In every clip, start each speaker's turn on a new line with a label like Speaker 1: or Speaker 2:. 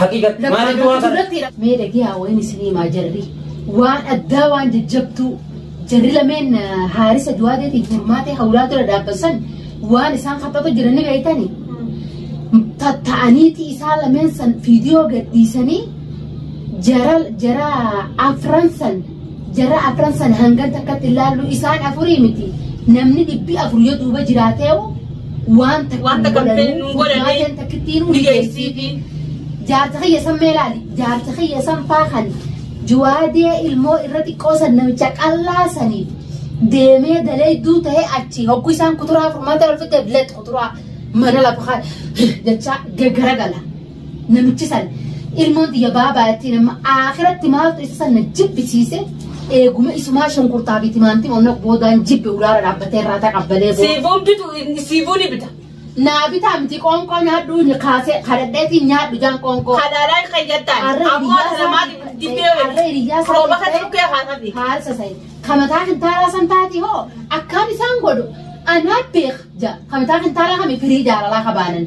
Speaker 1: Haqiiqatti maaliif Lakkaa'amtoota du'aa kana? irratti hidha. Mee dhagee haa wayiin
Speaker 2: isin himaa jarri. Waan addaa waan jajjabtuu jarri lameen ah, haarisa duwaateetiin furmaatee hawlaa dura dhaabbasan waan isaan kaphatu jiran ni beektani. Tatta'aniiti isaa lameen san viidiyoo gadhiisanii jara jara afran san Jarra afran san hangan takkatti ilaallu isaan afurii miti. Namni dhibbi afur yoo duuba jiraateewu waan takka Wanta hin kan godhanii, fedhu hin godhanii, furmaateen takkittiin ni hundi geessiifi. Jaarsa kiyya san mee ilaali. Jaarsa kiyya san faa kan juwaadee ilmoo irra xiqqoo san namicha qallaa saniif deemee dalayduu ta'ee achi hogguu isaan kuturaa furmaata wal fiddeef leet kuturaa mana lafa haa jechaa gaggara gala. Namichi san ilmoon tiyya baabaayattiin amma aakiratti maaltu isa san na jibbisiise eeguma isumaa shunkurtaa fi timaantima onna boodaan jibbe ulaara dhaabbatee irraa taqabbalee booda. Siifuun bitu siifuu
Speaker 3: ni bita. Naa bitaa miti
Speaker 2: qoonqoo nyaadhuu ni kaasee kadhadheetiin nyaadhu jaan qoonqoo. Halaalaa hin qayyattaan.
Speaker 3: Arra Ammoo hiriyaa sana maati isaa- dibbee arra waliin. hiriyaa isaa Rooba kan ta'e- dhukkee haasafi. Haarsa sa'i.
Speaker 2: Kamataa kintaalaa san taati hoo akkaan isaan godhu anaa beek ja kamataa kintaalaa kami firii jaalalaa kabaanan.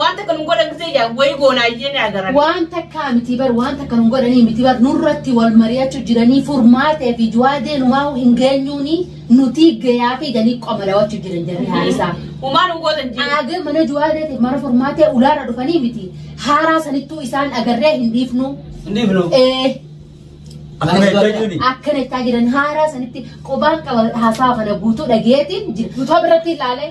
Speaker 3: Waan takka nun godhan gisee yaa wayi goonaa iyyee ni agaran. Waan takkaa miti
Speaker 2: bar waan takka nun godhanii miti bar nurratti wal mari'achuu jiranii furmaatee fi du'aa deenumaa hin geenyuuni nuti gayaa fi ganii qoma dawachuu jiran jiranii haalisaa. Umaan hin
Speaker 3: gootan jiru. Aagee mana du'aa deeteef
Speaker 2: mana furmaatee ulaarra dhufanii miti haaraa sanittuu isaan agarree hin dhiifnu. Inni filo. Ee. Akkana itti hojjuni. akkana itti jiran haaraa sanitti qubaan qaba haasaa kana guutuu dhageetiin jira. Guutuu biratti ilaalee.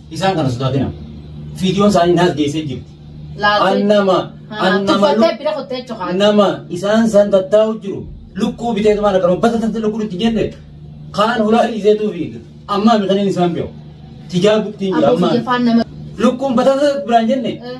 Speaker 2: Isaan
Speaker 1: kana sodaatina. Fiidiyoon isaanii naas geessee jirti. An nama an nama Tuffattee bira kuttee luk- jechuudha. nama isaan san tattaa'u jiru lukkuu bitee tumaan akkana bata tatte lukkuu itti jenne kaan hulaa dhiiseetuu fi ammaa mitaniin isaan biyo. Tijaa buktiin jira Aboo ammaa. biyya faan nama. Lukkuun bata tatte biraan jenne Eh.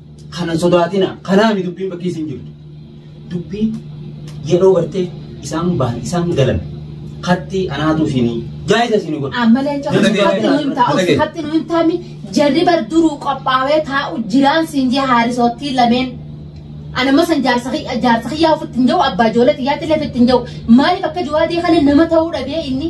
Speaker 1: Kanan sodaatina. Kanaami dubbiin bakkee isin jirtu. Dubbiin yeroo gartee isaan bahan isaan galan katti anaatu isinii jaayisa isinii godha. Amma leenca Nana deemee hatti
Speaker 2: nu hin taa'u nana deemee. hatti nu hin taa'mi jarri bar duruu qophaawee taa'u jiraan siin jee haarisoottii lameen. Anamma san jaarsa kiyya- jaarsa kiyyaa ofitti hin jiru abbaa ijoollee xiyyaatti illee ofitti hin jiru maaliif akka jawaadee kana nama ta'uu dhabee inni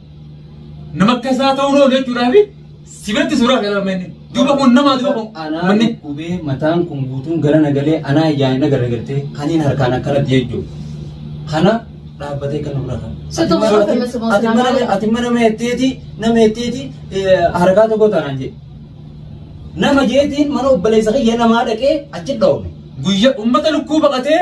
Speaker 4: Nama akka isaa ta'uu noo jechuudhaaf si biratti suuraa kana amma inni. Duuba kun nama duuba kun Anaa manni. dhukubee
Speaker 1: mataan
Speaker 4: kun
Speaker 1: guutuun gara nagalee anaa ijaan na garagartee kaniin harkaan akkanatti jechuudha. Kana dhaabbatee kan nurra kan. Soto Ati gosa mana- keessumaa ati mana- sanaa. Ati mana meetteeti nama meetteeti harkaa tokko taanaan jedhe. Nama jeetiin mana obboleessa kiyya namaa dhaqee achi dhawame. Guyyaa uummata
Speaker 4: lukkuu baqatee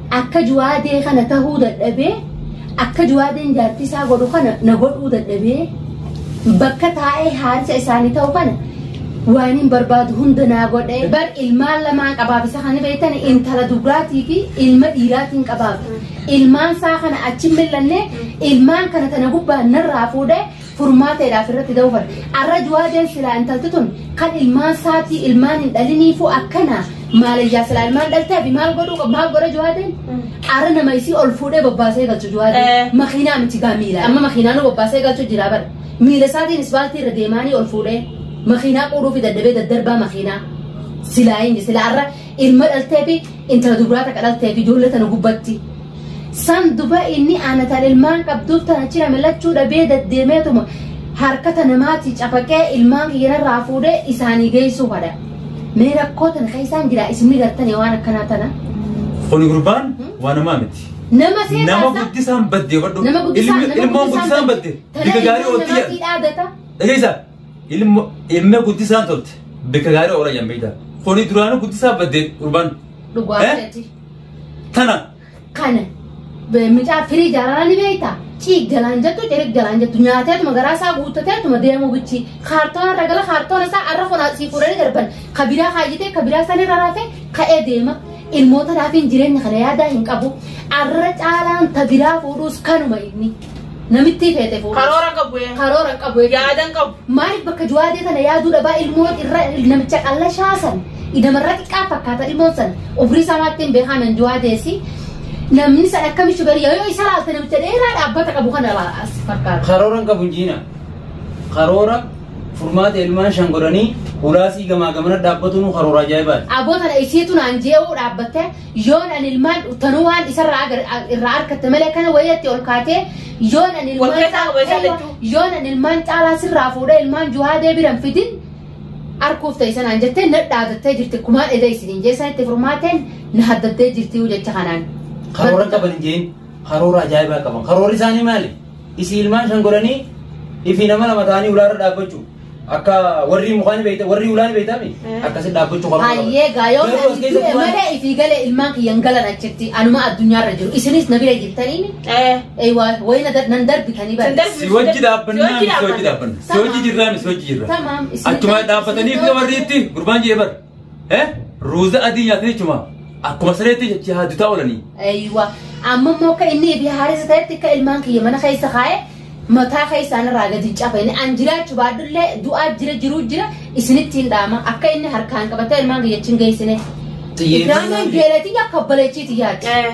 Speaker 2: Akka juwaadee kana tahuu dadhabee akka juwaadeen jaartii isaa godhu kana na godhuu dadhabee bakka taa'ee haarisa isaanii ta'u kana waan hin barbaadu hunda naa godhe bar ilmaan lamaan qabaaf isa kan beektan intala dubraatii fi ilma dhiiraatiin qabaaf ilmaan isaa kana achi hin millanne ilmaan kana tana gubbaan narraa fuudhe furmaata jedhaaf irratti da'uu barde. Arra juwaadeen silaa intalti tun kan ilmaan saatii ilmaan hin dhaliniifuu akkana maalayyaa silaa ilmaan dhaltee abi maal godhuu qaba maal godha juwaadeen? Arra nama isii ol fuudhee bobbaasee galchu Eh. juwaadeen. Makiinaa miti gaa miila amma makiinaa nu bobbaasee galchu jira bara. Miila isaatiin isbaaltii irra deemaanii ol fuudhee makiinaa quudhuu fi daddabee daddarbaa makiinaa. Silaa inni silaa arra ilma dhaltee fi intala dubraa takka dhaltee fi ijoollee tana gubbatti. San duba inni ana tan ilmaan qabduuf tana cina milachuu dhabee daddeemeetuma harkata namaatii cafaqee ilmaan kiyya narraa fuudhee isaanii geessuu fadha. Mee rakkoo tana keessaan jira isin ni gartanii waan akkanaa tana. Kuni gurbaan
Speaker 4: waa namaa miti. Nama seetaa Nama isaa-
Speaker 2: guddisaan badde
Speaker 4: badhu. nama guddisaan Ilmi- nama Ilmoon guddisaan badde. Tana Bika gaarii ilmoon oolti jedhan. namaatii dhaadata. Dhageessa. Ilmo ilma guddisaan tolte. Bika gaarii oolan yammiidha. Kuni duraanuu guddisaan badde gurbaan. Dhugaa Eh? jechuudha.
Speaker 2: Tana. Kana mucaa firii jaalalaa ni beektaa? Ciig galaan jettu cirig galaan jettu nyaateetuma garaa isaa guuttateetuma deemuu bichi kaartoona irra gala kaartoona isaa arra fonaa sii fuudhanii darban ka biraa haayyitee ka biraa san irra raafee ka'ee deema. Ilmoota raafiin jireenya kana yaadaa hin qabu. Arra caalaan ta biraa fuudhuus kanuma inni. Namittii feete fuudhe. Karoora hin qabu. ee. Karoora hin qabu. ee. Yaada hin qabu. Maaliif
Speaker 3: bakka juwaadee
Speaker 2: tana yaaduu dhabaa ilmoo irra namicha qallashaa san idamarra xiqqaa fakkaata ilmoon san ofrii isaa maatti hin beekaman juwaadeessi namni san akkami shugarii yoo isa laalte namicha dheeraa dhaabbata qabu kana laas fakkaata. Karoora hin qabu jiina.
Speaker 1: Karoora furmaata ilmaan shan godhanii hulaasii gamaa gamana dhaabbatunuu karoora ajaa'ibaati. Aboo tana isheetu naan
Speaker 2: jee'uu dhaabbattee Yoon an ilmaan tanuu waan isarraa agar- a- irraa argatte malee kana wayyatti ol kaatee yoon an ilmaan Wal keessaa qaba isaan lachuu. yoon an ilmaan caalaa sirraa fuudhee ilmaan juhaadee biran fidin arkuuf ta'e sanaan jettee na dhaadattee jirti kumaan edee isiniin jeessan itti furmaateen na haddattee jirti jecha kanaan. Karoora qaban hin
Speaker 1: jeen karoora ajaa'ibaa qaban. Karoorri isaanii maali? Isii ilmaan shan godhanii ifi nama lama ta'anii ulaarra dhaabbachuu. Akka warri mukaa ni beekta, warri ulaa ni beekta mi? Akkasi dhaabbachuu qabna. Ayyee gaayoon Garuu as ani
Speaker 2: keessatti du'e waan- malee ifii galee ilmaan kiyyan galan achitti anuma addunyaarra jiru isinis na bira jirtanii Eh. eeywaa wayina da- nan darbitanii bara. Sandar- Si wajji dhaabbannaa
Speaker 4: mi? Si wajji dhaabbanna. Si wajji jirraa mi? Si wajji jirra. Tamaam, isin- Achumaa dhaabbatanii fi warri itti gurbaan jee bar. Eh? Ruuza adii nyaatan jechuudha. Akkuma sareetti jecha haadutaa oolanii. Aywa.
Speaker 2: Amma immoo akka inni ebi haarisa ta'etti akka ilmaan kiyya mana keessa kaa'e mataa keessaan irraa gadi hin cafa. Inni an jiraachu baadullee du'aa jira jiruu jira isinitti hin dhaama. Akka inni harkaan qabatee ilmaan kiyya achi hin geessine. Xiyyeeffannaa Ibraahimaan fi- geelatii akka baleechiiti yaadde. Eh.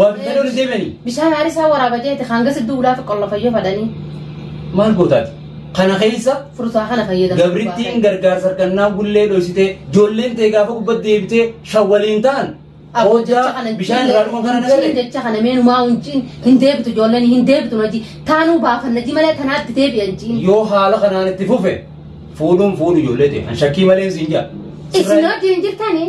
Speaker 1: Waabitanii ol deebi'anii. Bishaan haarii isaa waraaba
Speaker 2: jeete hanga sidduu ulaafi qollafayyoo fadhanii. Maal
Speaker 1: gootaati? Kana keessa Fursaa kana fayyadamu.
Speaker 2: gabrittiin gargaarsa
Speaker 1: harkannaa gullee dhoysitee ijoolleen ta'e gaafa gubbatti deebitee shawwaliin ta'an hojjaa bishaan irraa dhuman kana nagarre. jecha kana meenumaa
Speaker 2: hunjiin hin deebitu ijoolleen hin deebitu naji taanuu baafanna ji malee tanaatti deebi'an jiin. Yoo haala kanaan itti
Speaker 1: fufe fuudhuun fuudhu ijoollee ta'e kan shakkii malee siin jaa. Isin hojii hin
Speaker 2: jirtanii?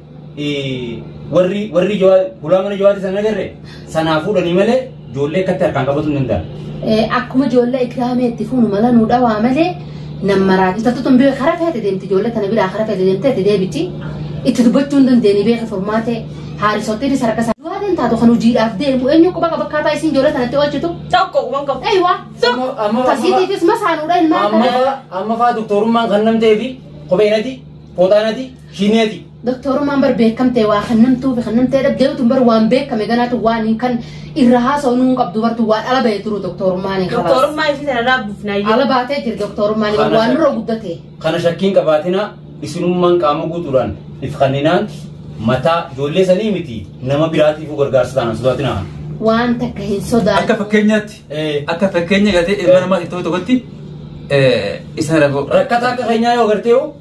Speaker 1: warri warri hulaa mana jawaati sana agarre sanaa fuudhanii malee ijoollee akkatti harkaan qabatu hin danda'an. Akkuma ijoollee
Speaker 2: ikraamee itti fuunu mala nuu dhawaa malee nam maraa itattu tun bira kara feete deemti ijoollee tana biraa kara feete deemte itti deebitti itti dubbachuu hin dandeenye beeka furmaatee haarisotti isa harka isaa. Duwaatiin taatu kan hojiidhaaf deemu eenyu quba qaba akkaataa isiin ijoollee tanatti oolchitu. Tokko waan qabu.
Speaker 3: Eeywa.
Speaker 2: Tasiitiifis masaanuudha ilmaan. Amma fa'aa
Speaker 1: doktorummaan kan namtee fi kopheenati pootaanati Hineeti. Doktorummaan bar
Speaker 2: beekamtee waa kannamtuu fi kannamtee dhaggeetu bar waan beekame ganaatu waan hin kan irra haasa'u nuun qabdu bartu waan ala ba'ee turu doktorummaan hin qabaatu. Doktorummaa isii sana irraa
Speaker 3: buufnaayyuu. Ala baatee jira
Speaker 2: doktorummaan Kana waan shakki- nurra guddate. Kana shakkiin qabaatina
Speaker 1: isinummaan qaama guutuudhaan if kanninaan mataa ijoollee sanii miti nama biraatiifuu gargaarsa taanaan sodaatina. Waan takka
Speaker 2: hin sodaatu. Akka fakkeenyaatti
Speaker 4: Eh. akka fakkeenya gaatee ilma namaa tokko tokkotti eh, isaan rakkoo. Rakkataa akka
Speaker 1: keenyaa yoo gartee hoo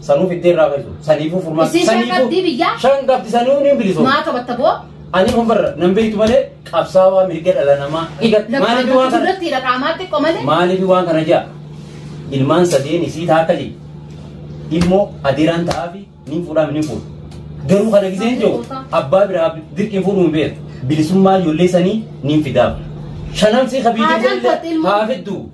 Speaker 1: Sanuu fiddee irraa keessu. Saniifuu furmaata. Isin shan qabdii biyyaa? Shan qabdi sanuu ni bilisoo. Maa qabatta boo?
Speaker 2: Ani kun barra nan
Speaker 1: beektu malee qabsaawaa mirga dhala namaa dhigatti. Maaliif waan kana? Duratti dhaqaamaa xiqqoo malee? Maaliif waan kana jaa? Ilmaan sadeen isii taaka jee. Ilmoo adeeraan ta'aafi ni fuudhaam ni fuudhu. Garuu kana giseen jiru abbaa biraa dirqiin fuudhuu hin beeku. Bilisummaa ijoollee sanii ni fidaaf. Shanan sii kabiyyee Haadaan ijoollee kootti ilmoo. haa fidduu.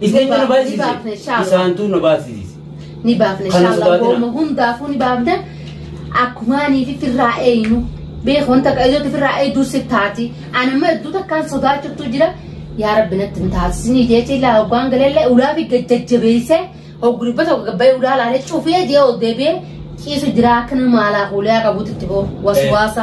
Speaker 1: Isaan nu baasise. Isaantu nu baasise. Ni baafna
Speaker 2: inshaallah gooma hundaafuu ni baafna akkumaanii fi firraa eenyu beekuun takka ijooti firraa eeyduu si taati ani amma iddoo takkaan sodaachiftu jira yaa rabbi natti hin taasisinii jecha ilaa hoggaan galallee ulaa fi gajjajjabeessee hogguribba tokko gabbayee ulaa laalee cufee jee ol deebi'ee ciisu jira akka nama maalaa kuulee akka buutitti boo waswaasa.